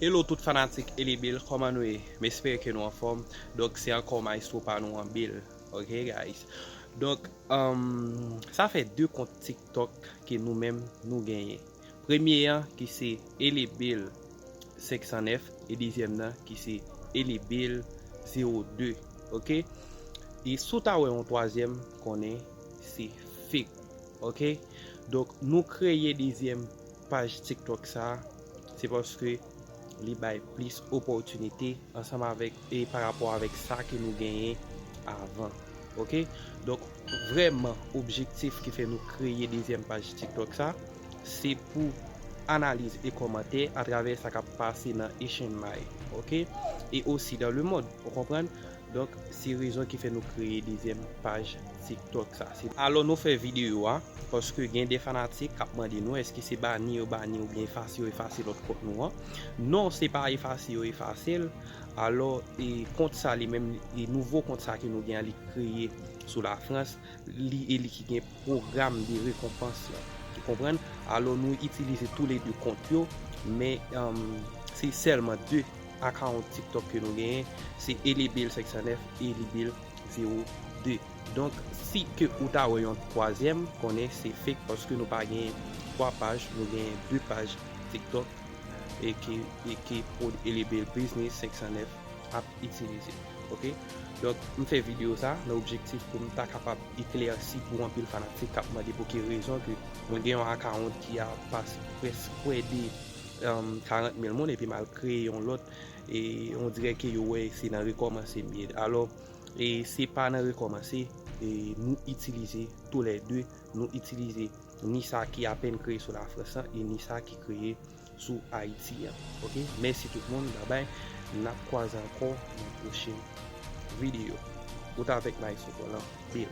Hello tout fanatik Eli Bill kòman nou ye m espere ke nou anfòm donk se ankò maestro pa nou an Bill ok guys donk sa fè 2 kont tiktok ke nou menm nou genyen premye an ki se Eli Bill 509 e dezyèm nan ki se Eli Bill 02 ok e si w ta wè yon twazyèm konnen se fake ok donk nou kreye dezyèm Paj TikTok sa a, se paske li bay plis opòtinite ansanm avèk e pa rapò avèk sa ke nou genyen avan. Ok. Donk, vrèman objektif ki fè nou kreye dezyèm paj TikTok sa, se pou analiz e kòmantè atravè sa k ap pase nan Echenmay. Ok. E osi dan lemond. Ou konprann? Donk se rezon ki fè nou kreye dezyèm paj tiktok sa. Alò nou fè videyo a paske gen de fanatik kap mande nou eske se bani yo bani oubyen efase yo efase lòt kont nou an. Non se pa efase yo efase l. Alò kont sa li menm li nouvo kont sa ke nou gen an li kreye sou lafrans. li e li ki gen pwogram de rekonpans lan. Ou konprann? Alò nou itilize tou le 2 kont yo, men se sèlman 2 akawont TikTok ke nou genyen, se Elebil 509 e Elebil 02. Donk, si ke ou ta wè yon twazyèm, konnen se fake paske nou pa genyen 3 paj, nou genyen 2 paj TikTok e ke Elebil Biznis 509 ap. itilize ok donk m fè video sa nan objektif pou m ta kapab eklèsi pou anpil fanatik kap mande pou ki rezon ke mwen gen yon akawont ki a pas pwès pwè de 40 mil moun epi m al kreye yon lòt e on dirè ke yo wè se nan rekòmanse m ye alò e se pa nan rekòmanse e nou itilize tou lè de nou itilize ni sa ki apèn kreye sou lafrans lan e ni sa ki kreye sou Haïti an ok mèsi tout moun babay nap kwaze ankò nan pwochen video ou t avèk maestro Tolan bill.